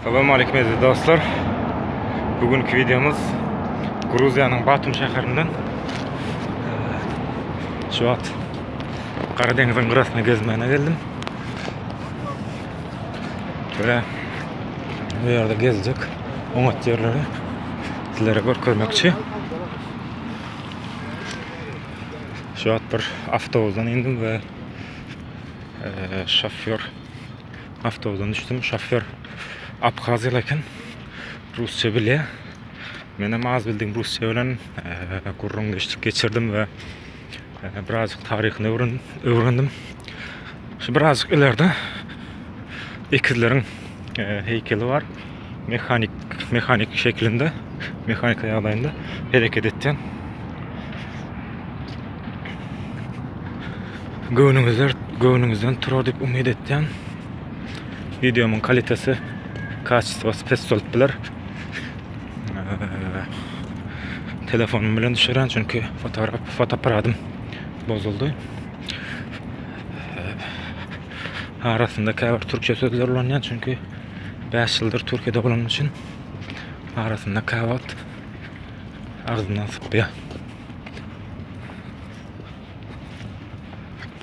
Salam aleyküm eziz dostlar. Bugünkü videomuz Gruziýanyň Batum şäherinden şu wagt Gara deňiziň gyrasyna gezmäne geldim. Şöyle bu ýerde gezjek oňat ýerleri sizlere görkezmekçi. Şu wagt bir awtobusdan indim we şofýor Awtobusdan düşdüm, şofýor abhaziýaly eken. Rusça bilýär. Menem az bildim rusça bilen gürrüň geçdik geçirdim we birazjyk taryhyny öwrendim. Öwrendim. Şu birazjyk ileride ekizleriň heýkeli bar. Mehanik, mehanik şeklinde, mehanika ýagdaýynda hereket etýän. Göwnüňizler, göwnüňizden turar diýip umyt etýän. Wideomyň kalitesi, kaçestwasy pes bolup biler. Telefonym bilen düşürän, çünki fotoaparatym bozuldy. arasynda käbir türkçe sözler ulanýan, çünki 5 ýyldyr Türkiýede bolan üçin arasynda käwagt agzyndan sypýar.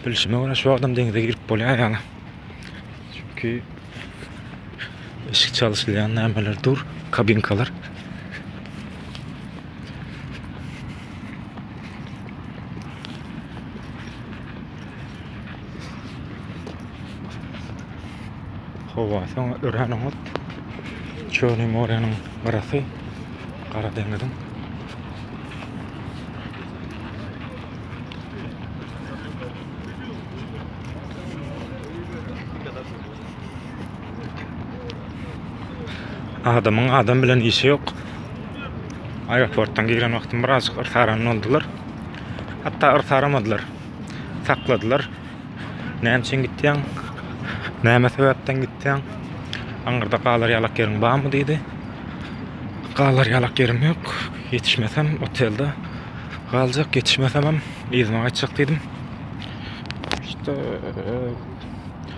Bilşime görä şu adam deňize girip bolýar ýaly. Çünki eşik çalyşylýan nämeler dur, kabinkalar. Howa, soň ören oňat. Çöni moreniň garasy, gara deňiziň. Adamyň adam bilen işi yok. Aeroportdan giren wagtym birazcık yrsaran oldular. Hatta yrsaramadylar. Sakladylar. Näme üçin gitýäň? Näme sebäpden gitýäň? Aňyrda galar ýalak ýeriň barmy diýdi. Galar ýalak ýerim ýok. Ýetişmesem otelde galjak, ýetişmesemem yzyma gaýtjak diýdim. İşte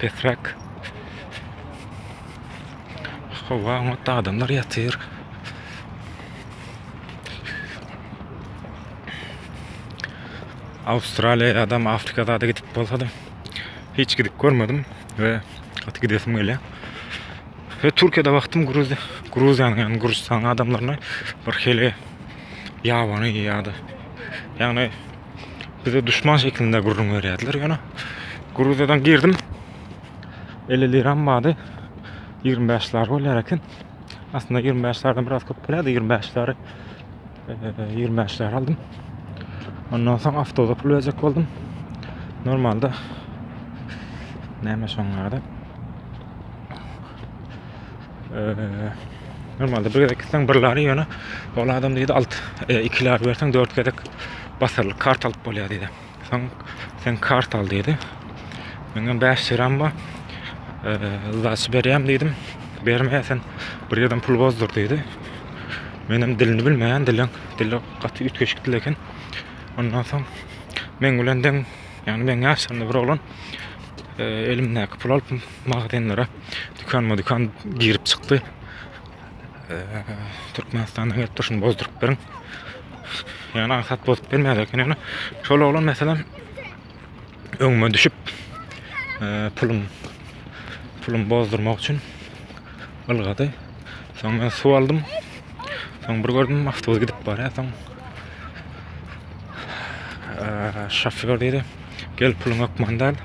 Pesräk. Hawa, oňat adamlar ýatyr. Awstraliýa ýa-da Afrika zada gidip bolsadym. Hiç gidip görmedim we gaty gidesim gelýär. He, Türkiýede wagtym Gruziýa, Gruziýanyň, ýagny Gürjüstanyň adamlaryna bir hili ýabany ýa-da ýagny Bize düşman şeklinde gürrüň berýärdiler ýöne Gruziýadan girdim. 50 liram bardy. 25 lar bolýar eken. Aslynda 25 lardan biraz köp bolýardy. 25 lary 25 lar aldym. Ondan soň awtoda pul berjek boldum. Normalda näme şoňlarda? Normalde bir gezek gitseň bir lari ýöne ol adam diýdi alt e, iki lari berseň dört gezek basyrlyk kart alyp bolýar diýdi. Soň sen kart al diýdi. Men hem 5 liram bar. E, Zaç berýäm diýdim. Berme sen bir ýerden pul bozdur diýdi. Men hem dilini bilmeýän dilen dili gaty üýtgeşik dil eken. Ondan soň men bilen deň ýagny men ýaşlarynda bir oglan e, elimdäki pul alyp magazinlere dükanma-dükan girip çykdy. Türkmenistana gelip durşuny bozdurup beriň. Yani aňsat bozup bilmedi eken yani. Şol oglan meselem öňüme düşüp e, pulum pulum bozdurmak üçin ylgady. Soň men suw aldym. Soň bir gördüm awtobus gidip barýar. Soň şoför diýdi, "Gel puluň ökman däl.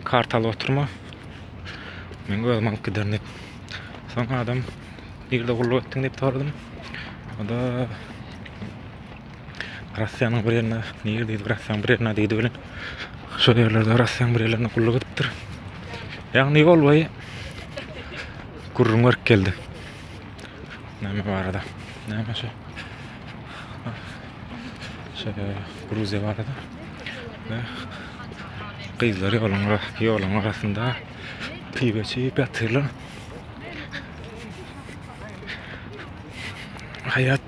Kart alyp oturma. Men özüm alyp giderin" diýip. Soň adam "Nirde gulluk etdiň?" diýip soradym. O da Rossiýanyň bir ýerinde, nir diýdi, Rossiýanyň bir ýerinde diýdi bilen. Şol ýerlerde Rossiýanyň bir ýerlerinde gulluk edipdir. Ýagny ýol boýy gürrüň berip geldi. Näme barada? Näme şu? Şu Gruziýa barada. Ve gyzlar ýoluň ýoluň arasynda piwe içip ýatyrlar. Haýat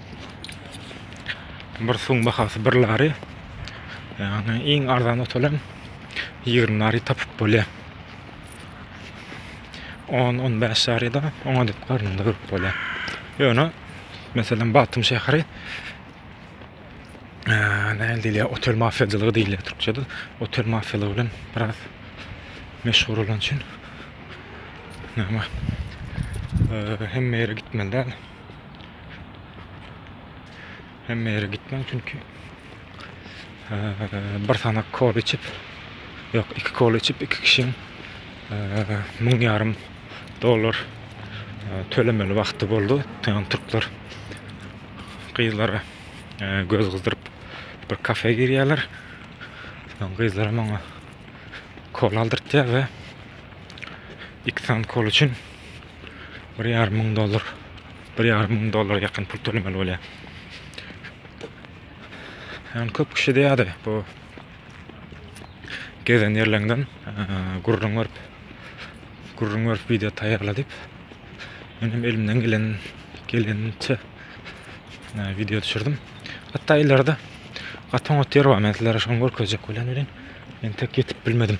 Bir suwuň bahasy bir lari. Ýagny iň arzan otalam 20 lari tapyp bolýar. 10-15 lari da oňa dek garnynda görüp bolýar. Ýöne meselem Batym şäheri näme diýilýär, otel mafiýaçylygy diýilýär türkçede. Otel mafiýalygy bilen biraz meşhur bolan üçin näme hemme ýere gitmeli däl. Hemme ýere gitmem çünki bir sanak kol içip, yok iki kol içip iki kişiň müň ýarym dollar tölemeli wagty boldy. Ýöne türkler gyzlara göz gyzdyryp bir kafe girýärler. Soň gyzlar maňa kol aldyrtýar we iki sany kol üçin Bir ýarym müň dollar. Bir ýarym müň dollara ýakyn pul tölemeli bolýar. Yani köp kişi de ýa-da bu gezen ýerlerinden gürrüň berip gürrüň berip video taýýarla diýip men hem elimden gelen geleniçe video düşürdim. Hatda ileride gaty oňat ýer bar. Men sizlere şony görkezjek bilen bilen men tek ýetip bilmedim.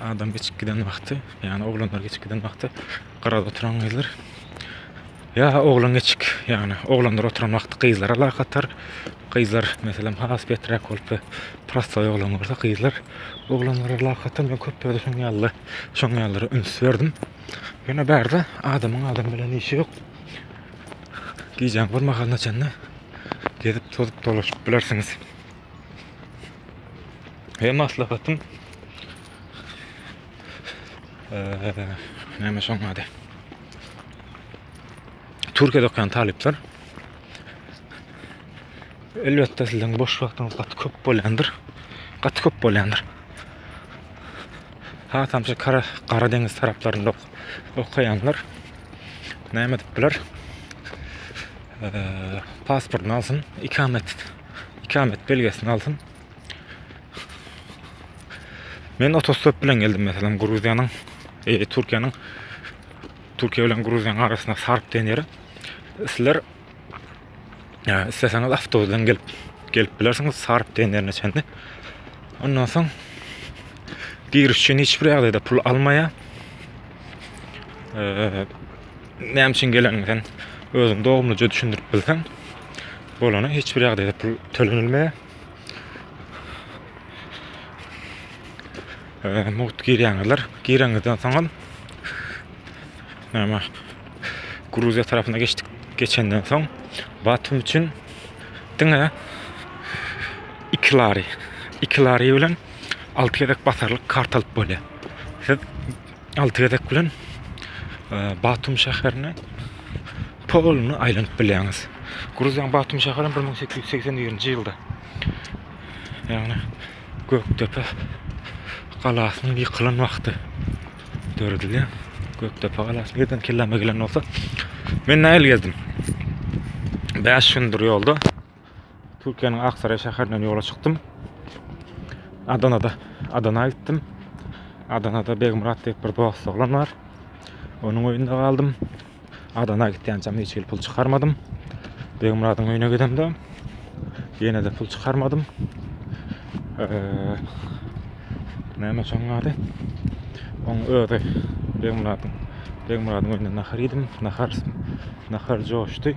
Adam geçip giden wagty, ýagny oglanlar geçip giden wagty gyrada oturan gyzlar ýa oglan geçip, ýagny oglanlar oturan wagty gyzlara lak atar. Gyzlar meselem has beträk bolup we prostoý oglan bolsa gyzlar oglanlara lak atar. Men köp ýerde şoň ýaly, şoň ýalylara üns berdim. Ýöne bärde adamyň adam bilen işi ýok. Gijäň bir mahalyna çenli gezip tozup dolaşyp bilersiňiz. He maslahatym Näme şoň ady? Türkiýede okaýan talyplar elbetde sizden boş wagtyňyz gaty köp bolýandyr. Gaty köp bolýandyr. Ha tamşa kara kara deňiz taraplarynda ok okaýanlar näme edip biler? Pasportyny alsyn, ikamet ikamet belgesini alsyn. Men otostop bilen geldim meselem Gruziýanyň, e, Türkiýäniň Türkiýe bilen Gruziýanyň arasynda Sarp diýen ýere. Sizler e, isleseňiz awtobus bilen gelip gelip bilersiňiz Sarp diýen ýerine çenli. Ondan soň giriş üçin hiç bir ýagdaýda pul almaýar. E, näme üçin geleniňden özüň dogumlyja düşündirip bilseň. Bolany hiç bir ýagdaýda pul tölenilmeýär. Ee, mugt girýäňizler. Gireňizden soňam näme Gruziýa tarapyna geçdik. Geçenden soň Batum üçin diňe 2 lari, 2 lari bilen 6 gezek basarlyk kart alyp bolýar. Siz alty gezek bilen Batum şäherini poluny aýlanyp bilýäňiz. Gruziýanyň Batum şäherini 1881-nji ýylda ýagny Gökdepe galasynyň ýykylan wagty döredilýär. Gökdepe galasy birden kelleme gelen bolsa, men nähili gezdim? 5 gündür ýolda. Türkiýäniň Aksaray şäherinden ýola çykdym. Adanada, Adana gitdim. Adanada Begmyrat diýip bir dost oglan bar. Onuň öýünde galdym. Adana gitýänçäm hiç hili pul çykarmadym. Begmyradyň öýüne gidemde ýene-de pul çykarmadym. Näme şoň ady? Oň özi Begmyradyň Begmyradyň öýünde nahar iýdim. Nahar nahar joşdy.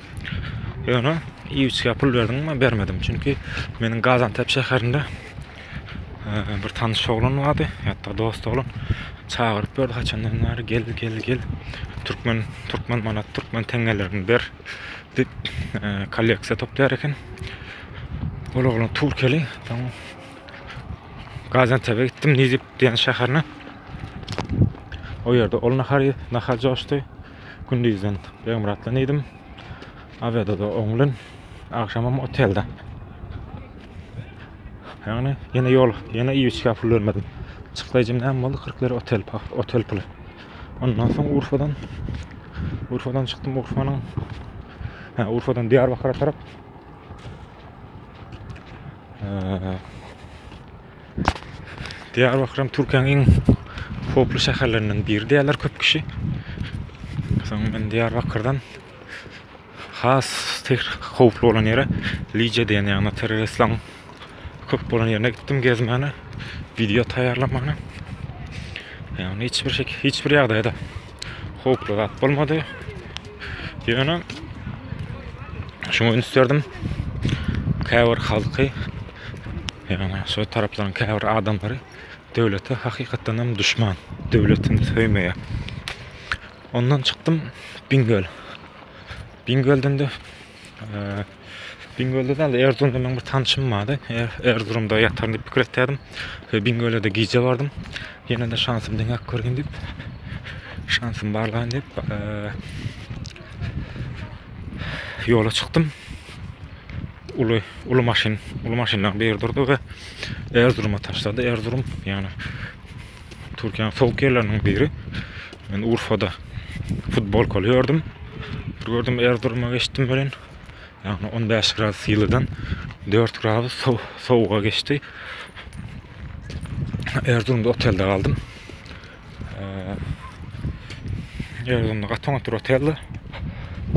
Ýöne iýgiçgä pul berdiňmi? Bermedim. Çünki meniň Gazantep şäherinde bir tanyş oglan bardy, hatda dost oglan. Çagyryp ýördi haçandan bäri gel, gel, gel. Türkmen, türkmen manat, türkmen teňňelerini ber diýip kolleksiýa toplaýar eken. Ol oglan türkeli. Gazantebe gitdim, Nizip diýen şäherine. O ýerde ol nahar, nahar joşdy. Gündizden Begmyratdan iýdim. Awiada-da oňlyn, agşamam otelde. Ýagny ýene ýol, ýene iýiçkä pul bermedim. Çykdaýjym näme boldy? 40 lira otel pa, otel puly. Ondan soň Urfadan Urfadan çykdym, Urfanyň Ha, Urfadan Diýarbakyra tarap. Eee, Diýarbakyrym Türkiýäň iň howply şäherlerinden biri diýýärler köp kişi. Soň men Diýarbakyrdan has howply bolan ýere Lice diýen ýagny terroristleriň köp bolan ýerine gitdim gezmäne, wideo taýýarlamana. Ýagny hiç bir şekil, hiç bir ýagdaýda howply zat bolmady. Ýöne şuňa üns berdim. Käbir halky Ýagny şo taraplaryň käbir adamlary döwlete hakykatdan hem duşman. Döwletini söýmeýär. Ondan çykdym Bingöl. Bingölden de Bingölde däl, Erzurumda meniň bir tanşym bardy. Er, Erzurumda ýataryn diýip pikir etdim. Şo Bingölde gije bardym. Ýene de şansym deňäp görgin diýip. Şansym barlaýyn diýip, ýola çykdym. uly uly maşyn uly maşynlaryň biri durdy we Erzuruma taşlady. Erzurum ýagny Türkiýäniň sowuk ýerleriniň biri. Men Urfada futbolkaly gördüm. Bir gördüm Erzuruma geçdim bilen. Ýagny 15 gradus ýylydan 4 gradus sowuga geçdi. Erzurumda otelde galdym. Ýazgynda gaty oňat durat ýazdy.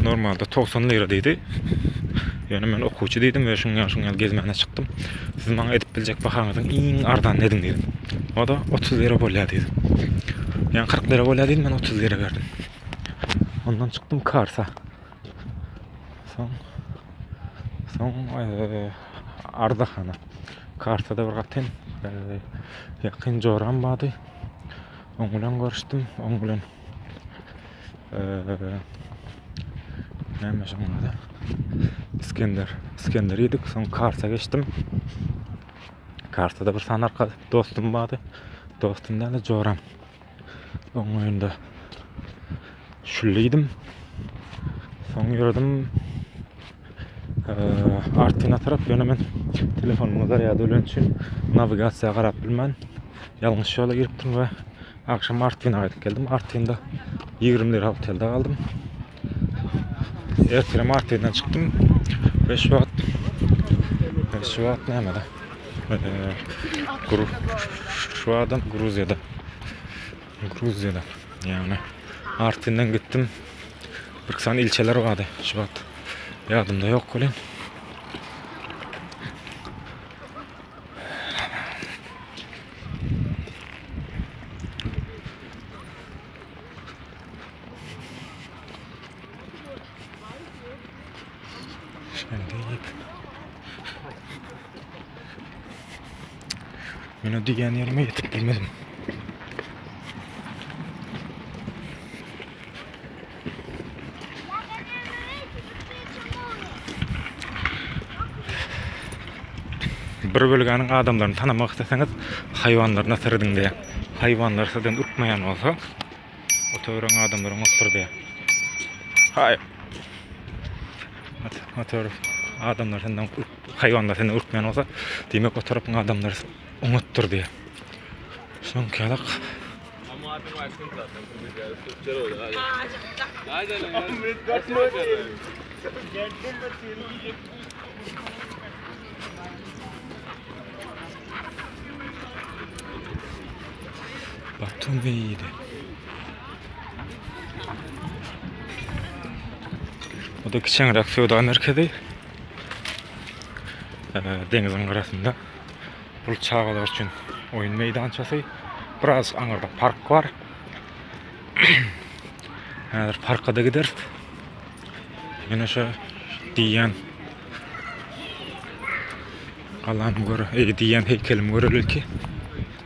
Normalda 90 lira diýdi. Ýöne men okuwçy diýdim we şuň ýaşyň ýaly gezmäne çykdym. Siz maňa edip biljek bahaňyzyň iň arzan nediň diýdim. O da 30 lira bolýar diýdi. Ýa 40 lira bolýar diýdim, men 30 lira berdim. Ondan çykdym Karsa. Soň soň Arzahana. Karsada bir gatyn ýakyn joram bardy. Oň bilen görüşdim. Oň bilen eee näme şoň ady? Iskender. Iskender ýedik. Soň karta geçdim. Kartada bir sany arka dostum bardy. Dostum däl, joram. Oň öýünde şülle ýedim. Soň ýöredim. Artyna tarap ýöne men telefonymyň zarýady öleni üçin nawigasiýa garap bilmän ýalňyş ýola giripdim we agşam Artyna gaýdyp geldim. Artynda 20 lira otelde galdym. Ertirem Artyndan çykdym we şu wagt şu wagt nämede? Şu wagtdan Gruziýada. Gruziýada, ýagny Artwinden gitdim. Birki sany ilçeler bardy. Şu wagt ýadymda ýok welin. Şeýle diýip. Mine diýen ýerime ýetip bilmedim. Bir bölgäniň adamlaryny tanamak isleseňiz, haýwanlaryna serediň diýýär. Haýwanlar sizden ürkmeýän bolsa, oturan adamlaryň otdur diýýär. Haý. Otur, adamlar senden Haýwanlar seni ürkmän bolsa, diýmek o tarapyň adamlary oňatdyr diýýär. Şoňkalak. Batum beýdi. Bu da kiçeňräk söwda merkezi. deňiziň gyrasynda. Bul çagalar üçin oýun meýdançasy. Biraz aňyrda park bar. Häzir parka da gideris. Ýene şu diýýän Allah'ım göre, ey diýýän heykelim göreli ki.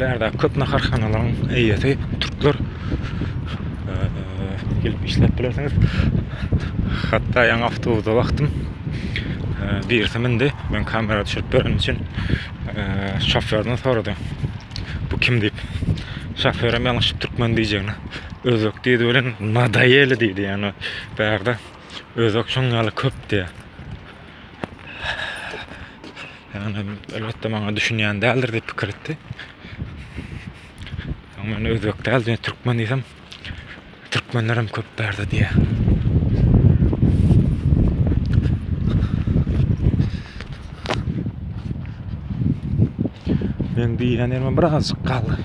Bärde köp naharhanalaryň eýesi türkler gelip işläp bilersiňiz. Hatda ýaňy awtobusa wagtym birisi mindi. Men kamera düşürip beren üçin şoförden sorady. Bu kim diýip. Şoför hem ýalňyşyp türkmen diýjegini. Özbek diýdi bilen nadayeli diýdi. Ýani bärde özbek şoň ýaly köp diýýär. Yani elbette bana düşünýän däldir diýip pikir etdi. Soň men özbek däl, men türkmen diýsem, türkmenler hem köp bärde diýýär. Men diýýän ýerime birazjyk galdy.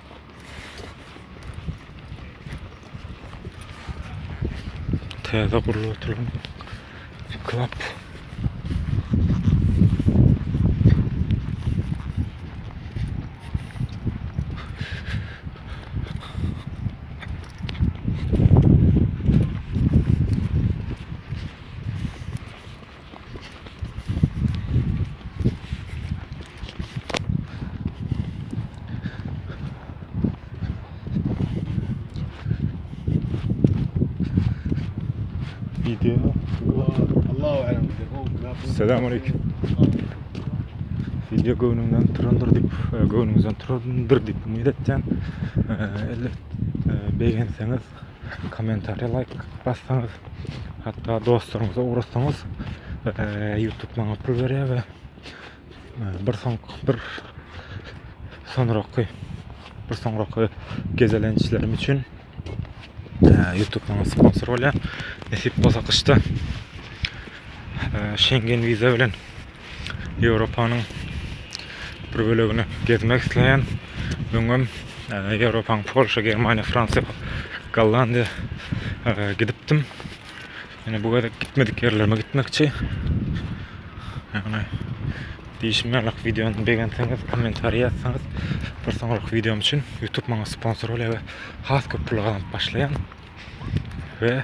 Täze gurlup oturan klap. Video. Allahu alem. Selamun aleyküm. Video göwnüňden turandyr diýip, e, göwnüňizden turandyr diýip umyt etýän. E, Elbet e, begenseňiz komentariýa laýk bassaňyz hatda dostlaryňyza ugratsaňyz youtube maňa pul berýär we bir soň bir soňraky bir soňraky gezelençlerim üçin youtube maňa sponsor bolýar nesip bolsa gyşda şengen wiza bilen Ýewropanyň bir bölegini gezmek isleýän, öňem Ýewropanyň Polşa, Germaniýa, Fransiýa, Gollandiýa gidipdim. Ýöne bu gezek gitmedik ýerlerime gitmekçi. Ýagny diýşim ýalak wideony begenseňiz, kommentariýa ýazsaňyz, bir soňrak wideom üçin YouTube maňa sponsor bolýar we has köp pul gazanyp başlaýan. We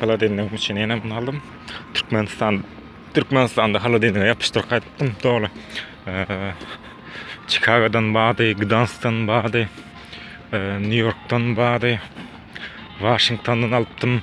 Haladenligim üçin ýene muny aldym. Türkmenistan Türkmenistanda haladenlige ýapyşdyryp gaýdypdym doly. Çikagodan bady, Gdansdan bady, Nýu-Ýorkdan bady, Waşingtondan alypdym.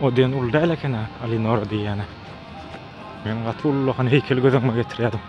O diýen uly däl eken ha, Alinora diýýäni. Men gaty ullakan heýkel göz öňüme getirýärdim.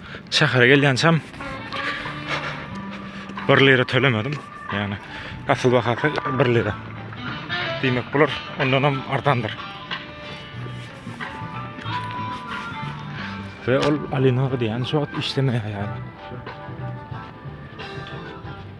Şähere gelýänçäm bir lira tölemedim. Yani asyl bahasy bir lira. Diýmek bular ondan hem artandyr. Ve ol Alina diýen şu wagt işlemeýär ýaly.